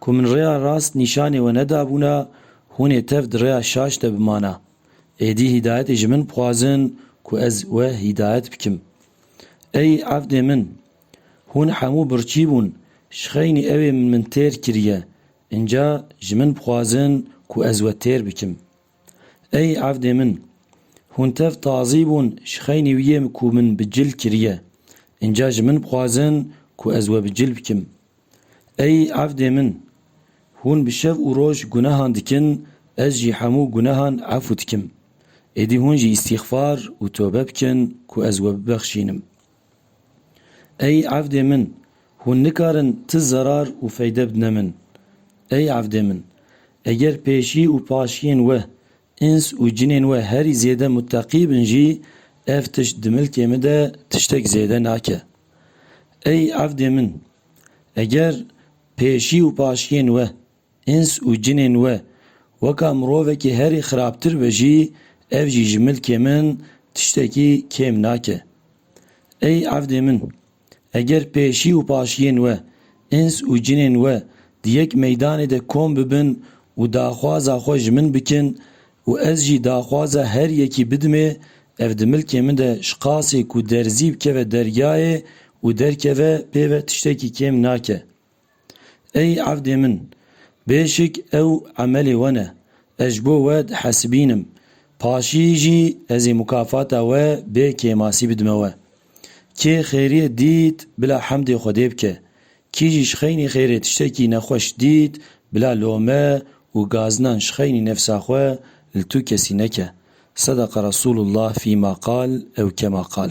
Ku min rêya rast nîşanê we nedabûna, hûn ê tev di rêya şaş de bimana. Êdî hîdayetê ji min bixwazin ku ez we hîdayet bikim. Ey evdê min! Hûn hemû birçî bûn, ji xeynî ewê min min têr kiriye, înca ji min bixwazin ku ez we têr bikim. Ey evdê min! Hûn tev tazî bûn ji xeynî wî yê ku min bi cil kiriye. Înca ji min bixwazin ku ez we bi cil bikim. Ey evdê min! Hûn bi şev û roj gunehan dikin, ez jî hemû gunehan efû dikim. Êdî hûn jî îstîxfar û tobe bikin ku ez we bibexşînim. Ey evdê min, hûn nikarin ti zerar û feyde bidne min. Ey evdê min, eger pêşî û paşiyên we, îns û cinên we herî zêde muteqî bin jî ev tişt di milkê min de tiştek zêde nake. Ey evdê min, eger pêşî û paşiyên we, Îns û cinên we, weka mirovekî herî xirabtir be jî, ev jî ji milkê min tiştekî kêm nake. Ey evdê min! Eger pêşî û paşiyên we, îns û cinên we di yek meydanê de kom bibin û daxwaza xwe ji min bikin û ez jî daxwaza her yekî bidimê, ev di milkê min de ji qasê ku derzî bikeve dergayê û derkeve pê ve tiştekî kêm nake. Ey evdê min! Bêşik ew emelê we ne. Ez ji bo we dihesibîn im. Paşî jî ez ê mukafata we bê kêmasî bidime we. Kê xêriyê dît bila hemdê Xwedê bike. Kî jî ji xeynî xêrê tiştekî nexweş dît bila lome û gazinan ji xeynî nefsa xwe li tu kesî neke. Sedeqa Resûlullah fîma qal ew kema qal.